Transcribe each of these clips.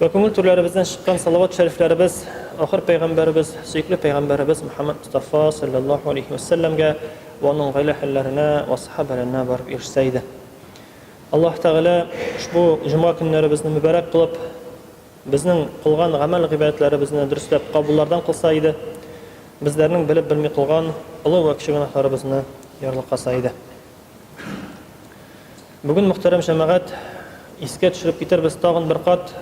Вә күңел түрләребездән чыккан салават-шәрифләребез ахыр пәйгамбәребез, сөекле пәйгамбәребез Мөхәммәд Мостафа салләллаһу алейһи вә сәлләмгә вә аның гаилә әһелләренә вә сахабәләренә барып ирешсә иде. Аллаһ Тәгалә ошбу җомга көннәребезне мөбарәк кылып, безнең кылган гамәл-гыйбадәтләребезне дөресләп кабуллардан кылса иде, безләрнең белеп-белми кылган олы вә кече гөнаһларыбызны ярлыкаса иде. Бүген, мөхтәрәм җәмәгать, искә төшереп китербез тагын бер кат,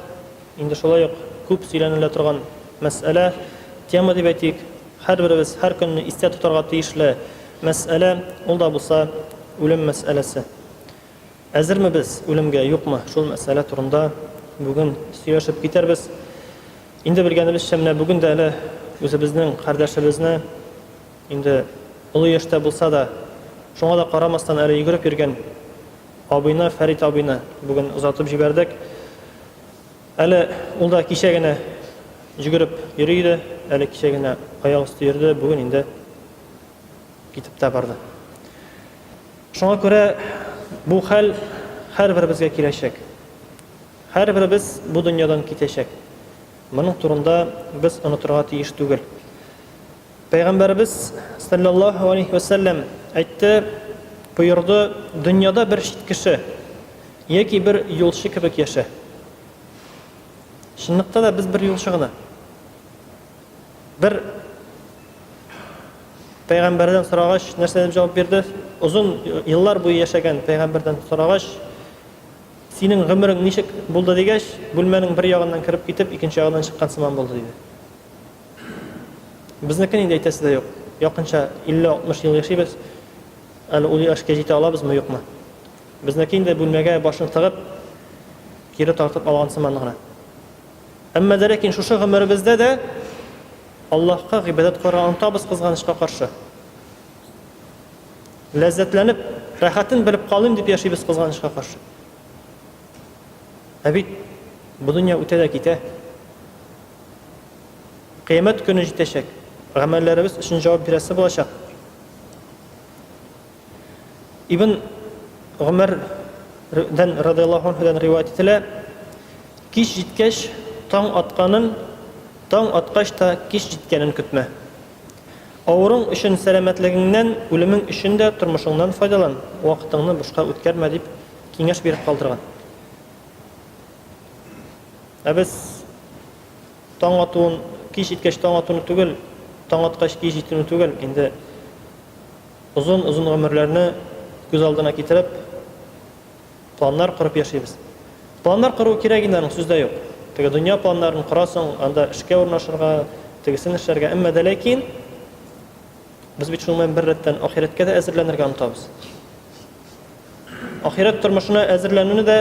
инде шулай ук күп сөйләнелә торган мәсьәлә, тема дип әйтик, һәрберебез һәр көнне истә тотарга тиешле мәсьәлә, ул да булса үлем мәсьәләсе. Әзерме без үлемгә, юкмы, шул мәсьәлә турында бүген сөйләшеп китәрбез. Инде белгәнебезчә, менә бүген дә әле үзебезнең кардәшебезне, Инде олы яшьтә булса да, шуңа да карамастан әле йөгереп йөргән абыйны, Фәрит абыйны бүген озатып җибәрдек. Әле ул да кичә генә йөгереп йөри иде, әле кичә генә аяк өсте йөрде, бүген инде китеп тә барды. Шуңа күрә бу хәл һәрберебезгә киләчәк. Һәрберебез бу дөньядан китәчәк. Моның турында без онытырга тиеш түгел. Пәйгамбәребез, салләллаһу алейһи вә сәлләм, әйтте, боерды, Дөньяда бер чит кеше яки бер юлчы кебек яшә. Чынлыкта да без бер юлчы гына. Бер пәйгамбәрдән сорагач, нәрсә дип җавап бирде? Озын еллар буе яшәгән пәйгамбәрдән сорагач, синең гомерең ничек булды дигәч, бүлмәнең бер ягыннан кереп китеп, икенче ягыннан чыккан сыман булды диде. Безнекен инде әйтәсе дә юк. Якынча 50-60 ел яшибез. Әле ул яшькә җитә алабызмы, юкмы? Безнеке инде бүлмәгә башын тыгып, кире тартып алган сыман гына. Әмма дә ләкин шушы гомеребездә дә Аллаһка гыйбадәт кылырга онытабыз, кызганычка каршы. Ләззәтләнеп, рәхәтен белеп калыйм дип яшибез, кызганычка каршы. Ә бит бу дөнья үтә дә китә. Кыямәт көне җитәчәк. Гамәлләребез өчен җавап бирәсе булачак. Ибн Гомәр дән радиаллаһу анһудан риваять ителә. Кич җиткәч, таң атканын, таң аткач та кич җиткәнен көтмә. Авыруың өчен сәламәтлегеңнән, үлемең өчен дә тормышыңнан файдалан, вакытыңны бушка үткәрмә, дип киңәш биреп калдырган. Ә без Таң атуын, кич җиткәч таң атуны түгел, таң аткач кич җитүне түгел, инде озын-озын гомерләрне күз алдына китереп, планнар корып яшибез. Планнар кору кирәк инде, аның сүз дә юк. Теге дөнья планнарын корасың, анда эшкә урнашырга, тегесен эшләргә, әмма дә ләкин без бит шуның белән беррәттән ахирәткә дә әзерләнергә омтабыз. Ахирәт тормышына әзерләнүне дә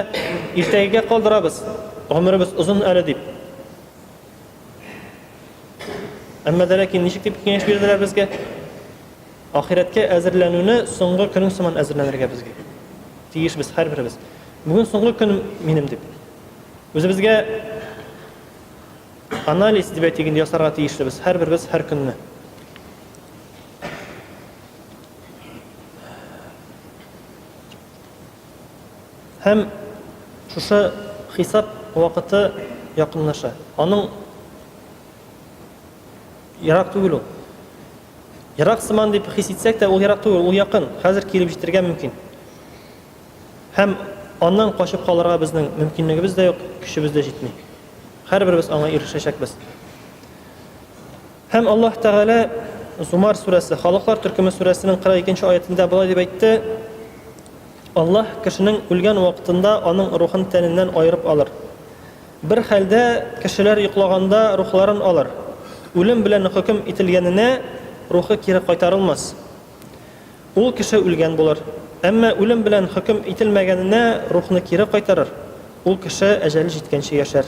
иртәгегә калдырабыз, гомеребез озын әле дип. Әмма дә ләкин ничек дип киңәш бирделәр безгә? Ахирәткә әзерләнүне соңгы көнең сыман әзерләнергә безгә. Тиеш без һәрберебез. Бүген соңгы көн минем дип. Үзебезгә анализ дип әйтик инде ясарга тиешле без һәрберебез һәр көнне. Һәм шушы хисап вакыты якынлаша. Аның ерак түгел ул. Ерак сыман дип хис итсәк тә, ул ерак түгел, ул якын. Хәзер килеп җитәргә мөмкин. Һәм аннан качып калырга безнең мөмкинлегебез дә юк, көчебез дә җитми. Һәрберебез аңа ирешәчәкбез. Һәм Аллаһ Тәгалә Зумар сүрәсе, Халыклар төркеме сүрәсенең 42 нче аятендә болай дип әйтте, Аллаһ кешенең үлгән вакытында аның рухын тәненнән аерып алыр. Бер хәлдә кешеләр йоклаганда рухларын алыр. Үлем белән хөкем ителгәненә рухы кире кайтарылмас. Ул кеше үлгән булыр. Әмма үлем белән хөкем ителмәгәненә рухны кире кайтарыр. Ул кеше әҗәле җиткәнче яшәр.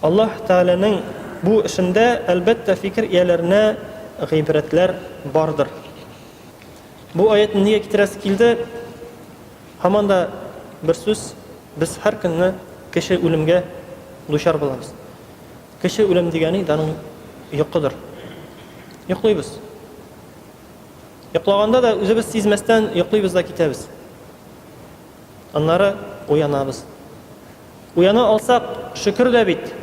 Аллаһ Тәгаләнең бу эшендә, әлбәттә, фикер ияләренә гыйбрәтләр бардыр. Бу аятьне нигә китерәсе килде? Һаман да бер сүз, без һәр көнне кеше үлемгә дучар булабыз. Кеше үлем дигәни даның йокыдыр. Йоклыйбыз. Йоклаганда да үзебез сизмәстән йоклыйбыз да китәбез. Аннары уянабыз. Уяна алсак, шөкер дә бит.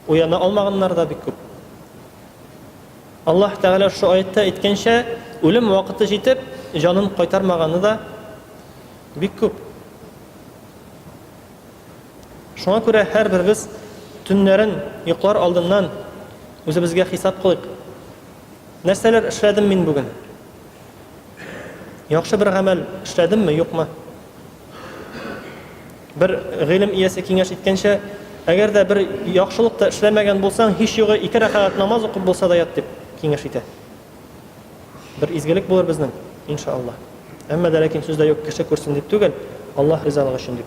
Уяна алмаганнар да бик күп. Аллаһ Тәгалә шул аятта әйткәнчә, үлем вакыты җитеп, җанын кайтармаганы да бик күп. Шуңа күрә һәрберебез төннәрен йоклар алдыннан үзебезгә хисап кылыйк. Нәрсәләр эшләдем мин бүген? Яхшы бер гамәл эшләдемме, юкмы? Бер гыйлем иясе киңәш иткәнчә, әгәр дә бер яхшылык та эшләмәгән булсаң, һич югы ике рәкәгать намаз укып булса да ят, дип киңәш итә. Бер изгелек булыр безнең, иншааллаһ. Әмма дә ләкин сүздә юк, кеше күрсен дип түгел, Аллаһ ризалыгы өчен дип.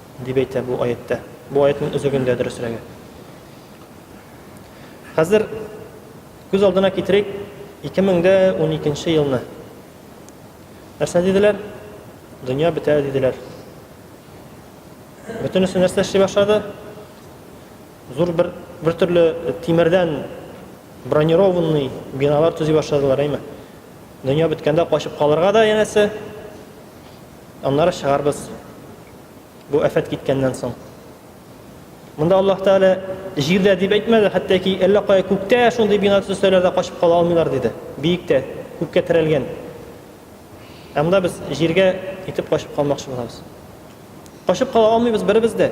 Дип әйтә бу аятьтә. Бу аятьнең өзегендә дөресрәге. Хәзер күз алдына китерик 2012 елны. Нәрсә диделәр? Дөнья бетә диделәр. Бөтенесе нәрсә эшли башлады? Зур бер бер төрле тимердән бронированный биналар төзи башладылар, әйме? Дөнья беткәндә качып калырга да янәсе Аннары чыгарбыз, бу афәт киткәннән соң. Монда Аллаһ Тәгалә җирдә дип әйтмәде, хәтта ки әллә кая күктә шундый бина төзсәләр дә качып кала алмыйлар диде. Биектә, күккә терәлгән. Ә монда без җиргә итеп качып калмакчы булабыз. Качып кала алмыйбыз беребез дә.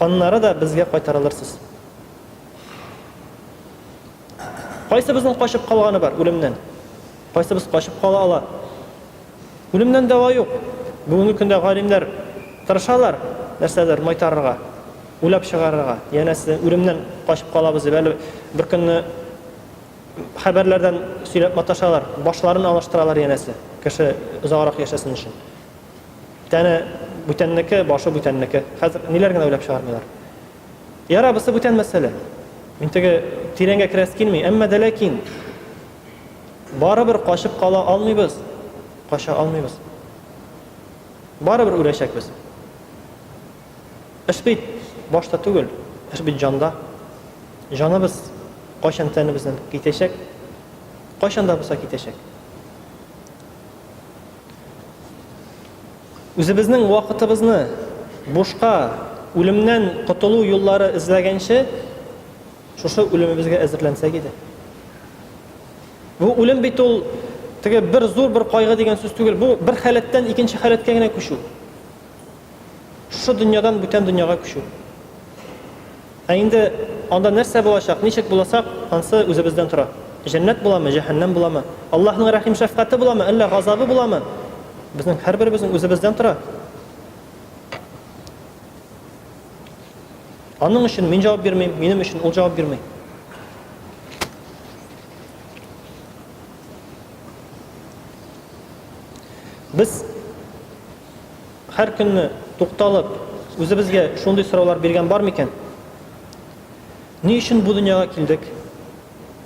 Аннары да безгә кайтарылырсыз. Кайсыбызның качып калганы бар үлемнән? Кайсыбыз качып кала ала? Үлемнән дәва юк. Бүгенге көндә галимнәр тырышалар нәрсәдер майтарырга, уйлап чыгарырга. Янәсе, үлемнән качып калабыз дип, әле беркөнне хәбәрләрдән сөйләп маташалар, башларын алыштыралар янәсе, кеше озаграк яшәсен өчен. Тәне бүтәннеке, башы бүтәннеке. Хәзер ниләр генә уйлап чыгармыйлар. Яра, бусы бүтән мәсьәлә. Мин теге тирәнгә керәс килми, әмма дә ләкин барыбер качып кала алмыйбыз, кача алмыйбыз. Барыбер үләчәкбез. Эш бит башта түгел, эш бит җанда. Җаныбыз кайчан тәнебездән китәчәк, кайчан да булса китәчәк. Үзебезнең вакытыбызны бушка, үлемнән котылу юллары эзләгәнче, шушы үлемебезгә әзерләнсәк иде. Бу үлем бит ул теге бер зур бер кайгы дигән сүз түгел, бу бер халәттән икенче халәткә генә күчү. Шушы дөньядан бүтән дөньяга күчү. Ә инде анда нәрсә булачак, ничек булачак, ансы үзебездән тора. Җәннәт буламы, җәһәннәм буламы, Аллаһның рәхим-шәфкате буламы, әллә газабы буламы, безнең һәрберебезнең үзебездән тора. Аның өчен мин җавап бирмим, минем өчен ул җавап бирми. Без Һәр көнне тукталып, үзебезгә шундый сораулар биргән бар микән? Ни өчен бу дөньяга килдек?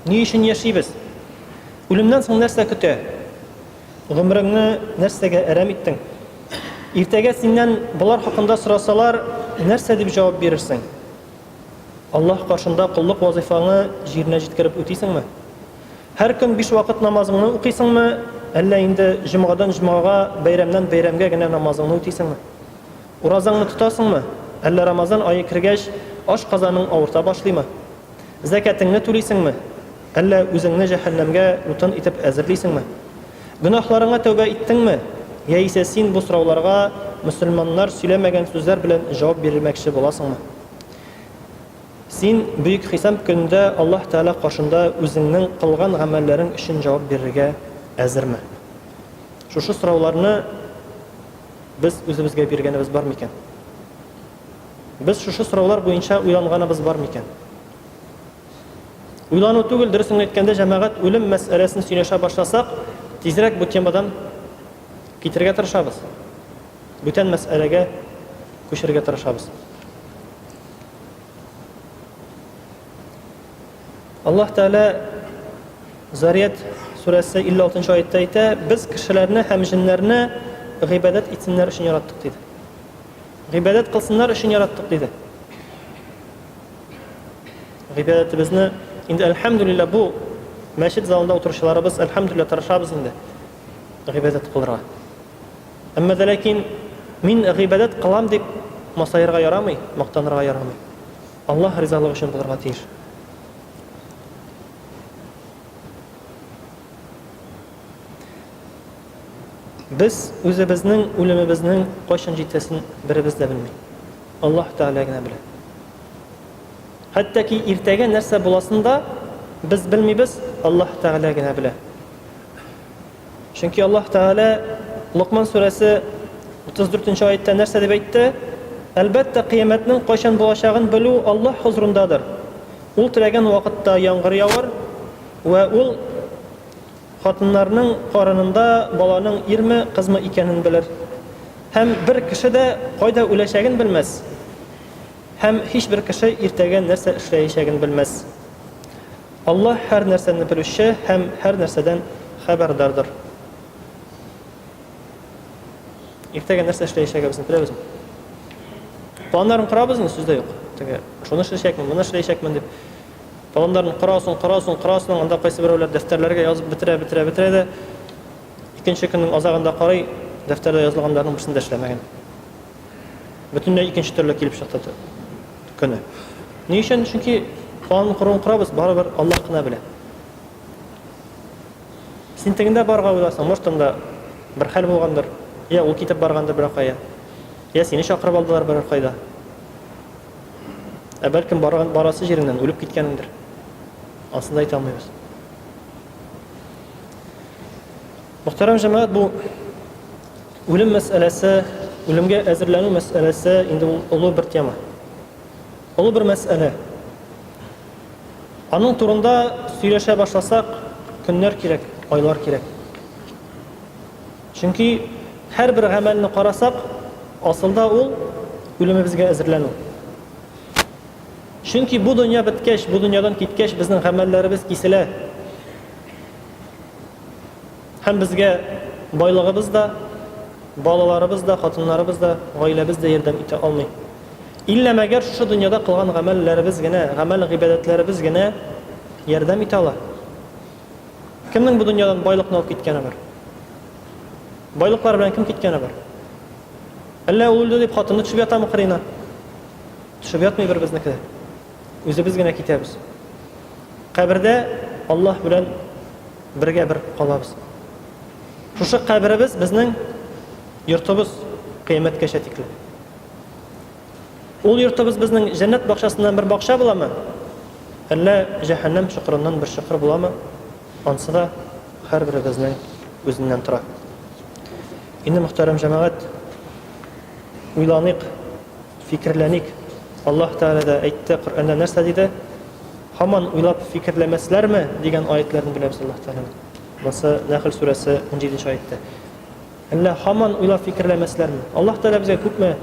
Ни өчен яшибез? Үлемнән соң нәрсә көтә? Гомереңне нәрсәгә әрәм иттең? Иртәгә синнән болар хакында сорасалар, нәрсә дип җавап бирерсең? Аллаһ каршында коллык вазыйфаңы җиренә җиткереп үтисеңме? Һәр көн биш вакыт намазыңны укыйсыңмы, әллә инде җомгадан җомгага, бәйрәмнән бәйрәмгә генә намазыңны үтисеңме? Уразаңны тотасыңмы, әллә Рамазан ае кергәч, ашказаның авырта башлыймы? Зәкятеңне түлисеңме, әллә үзеңне җәһәннәмгә утын итеп әзерлисеңме? Гөнаһларыңа тәүбә иттеңме, яисә син бу сорауларга мөселманнар сөйләмәгән сүзләр белән җавап бирмәкче буласыңмы? Син Бөек Хисап көнендә Аллаһ Тәгалә каршында үзеңнең кылган гамәлләрең өчен җавап бирергә әзерме? Шушы сорауларны без үзебезгә биргәнебез бар микән? Без шушы сораулар буенча уйланганыбыз бар микән? Уйлану түгел, дөресен әйткәндә, җәмәгать үлем мәсьәләсен сөйләшә башласак, тизрәк бу темадан китергә тырышабыз. Бүтән мәсьәләгә күчәргә тырышабыз. Аллаһ Тәгалә Зарият сүрәсе 56 аятта әйтә, без кешеләрне һәм җеннәрне гыйбадәт итсеннәр өчен яраттык диде. Гыйбадәт кылсыннар өчен яраттык диде. Гыйбадәтебезне инде әлхәмдүлиллә бу мәчет залында утыручыларыбыз әлхәмдүлиллә тырышабыз инде гыйбадәт кылырга. Әмма дә ләкин мин гыйбадәт кылам дип масаерга ярамый, мактанырга ярамый. Аллаһ ризалыгы өчен булырга тиеш. Без үзебезнең үлемебезнең кайчан җитәсен беребез дә белми. Аллаһ Тәгалә генә белә. Хәтта ки иртәгә нәрсә буласын да без белмибез, Аллаһ Тәгалә генә белә. Чөнки Аллаһ Тәгалә Локман сүрәсе 34 нче аятта нәрсә дип әйтте? Әлбәттә, кыямәтнең кайчан булачагын белү Аллаһ хозурындадыр. Ул теләгән вакытта яңгыр явыр, вә Ул хатыннарның карынында баланың ирме, кызмы икәнен белер. Һәм бер кеше дә кайда үләчәген белмәс. Һәм һичбер кеше иртәгә нәрсә эшләячәген белмәс. Аллаһ һәр нәрсәне белүче һәм һәр нәрсәдән хәбәрдардыр. Иртәгә нәрсә эшләячәгебезне беләбезме? Планнарын корабызмы? Сүз дә юк. Теге шуны эшләячәкмен, моны эшләячәкмен дип планнарын корасың, корасың, корасың, анда кайсы берәүләр дәфтәрләргә язып бетерә, бетерә, бетерә дә икенче көннең азагында карый, дәфтәрдә язылганнарның берсен дә эшләмәгән. бөтенләй икенче төрле килеп чыкты көне. Ни өчен? Чөнки план корын корабыз, барыбер Аллаһ кына белә. Син тегендә барга уйласаң, может, анда бер хәл булгандыр, я ул китеп баргандыр бер кая, я сине чакырып алдылар бер кайда. Ә бәлкем барган барасы җиреннән үлеп киткәнендер. Асында әйтә алмыйбыз. Мөхтәрәм җәмәгать, бу үлем мәсьәләсе, үлемгә әзерләнү мәсьәләсе инде ул олы бер тема. Олы бер мәсьәлә. Аның турында сөйләшә башласак, көннәр кирәк, айлар кирәк. Чөнки һәрбер гамәлне карасак, асылда ул үлемебезгә әзерләнү. Чөнки бу дөнья беткәч, бу дөньядан киткәч, безнең гамәлләребез киселә. Һәм безгә байлыгыбыз да, балаларыбыз да, хатыннарыбыз да, гаиләбез дә ярдәм итә алмый. Илла мәгәр шушы дөньяда кылган гамәлләребез генә, гамәл-гыйбадәтләребез генә ярдәм итә ала? Кемнең бу дөньядан байлыкны алып киткәне бар? Байлыклар белән кем киткәне бар? Әллә ул үлде дип хатыны төшеп ятамы кырыена? Төшеп ятмый беребезнеке дә. Үзебез генә китәбез. Кабердә Аллаһ белән бергә бер калабыз. Шушы каберебез безнең йортыбыз кыямәткәчә тикле. Ул йортыбыз безнең җәннәт бакчасыннан бер бакча буламы? Әллә җәһәннәм чокырыннан бер чокыр буламы? Ансы да һәрберебезнең үзеннән тора. Инде мөхтәрәм җәмәгать, уйланыйк. Фикерләник. Аллаһ Тәгалә дә әйтте, Коръәндә нәрсә диде? Һаман уйлап фикерләмәсләрме? дигән аятләрне беләбез Аллаһ Тәгаләнең. Монысы Нәхл сүрәсе 17 нче аятта. Әллә һаман уйлап фикерләмәсләрме? Аллаһ Тәгалә безгә күпме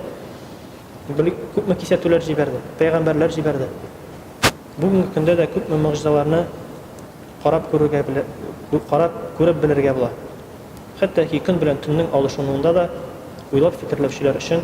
күпме кисәтүләр җибәрде, пәйгамбәрләр җибәрде. Бүгенге көндә дә күпме могҗизаларны карап күрергә карап күреп белергә була. Хәтта ки көн белән төннең алышынуында да уйлап фикерләүчеләр өчен